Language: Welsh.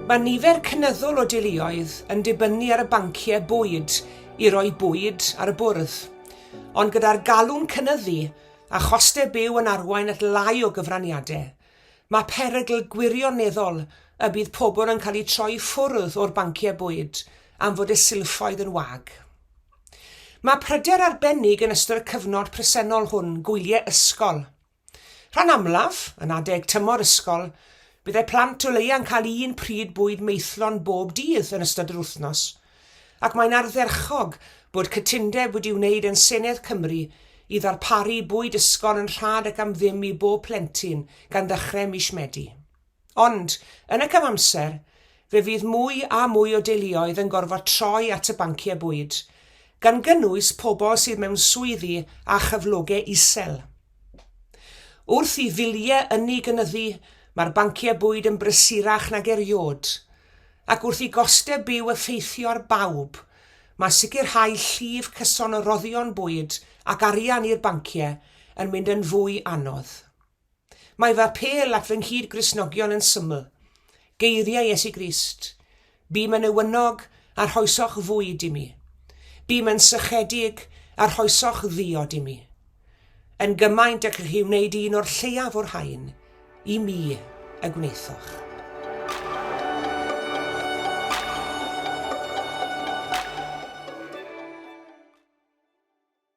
Mae nifer cynyddol o deuluoedd yn dibynnu ar y banciau bwyd i roi bwyd ar y bwrdd, ond gyda'r galw'n cynyddu a chostau byw yn arwain at lai o gyfraniadau, mae perygl gwirioneddol y bydd pobl yn cael eu troi i ffwrdd o'r banciau bwyd am fod y silffoedd yn wag. Mae pryder arbennig yn ystod y cyfnod presennol hwn, gwyliau ysgol. Rhan amlaf, yn adeg tymor ysgol, byddai plant o leiaf yn cael un pryd bwyd maethlon bob dydd yn ystod yr wythnos, ac mae'n ardderchog bod cytundeb wedi wneud yn Senedd Cymru i ddarparu bwyd ysgol yn rhad ac am ddim i bob plentyn gan ddechrau mis Medi. Ond, yn y cyfamser, fe fydd mwy a mwy o deuluoedd yn gorfod troi at y banciau bwyd, gan gynnwys pobl sydd mewn swyddi â chyflogau isel. Wrth i filiau ynni gynyddu, mae'r banciau bwyd yn brysurach nag erioed, ac wrth i gostau byw effeithio ar bawb, mae sicrhau llif cyson o roddion bwyd ac arian i'r banciau yn mynd yn fwy anodd. Mae fy apêl at fy nghyd-Gristnogion yn syml, geiriau Iesu Grist, Bûm yn newynog, a rhoesoch fwyd i mi. Bûm yn sychedig, a rhoesoch ddiod i mi. Yn gymaint ag chi wneud un o'r lleiaf o'r rhain, i mi y gwnaethoch.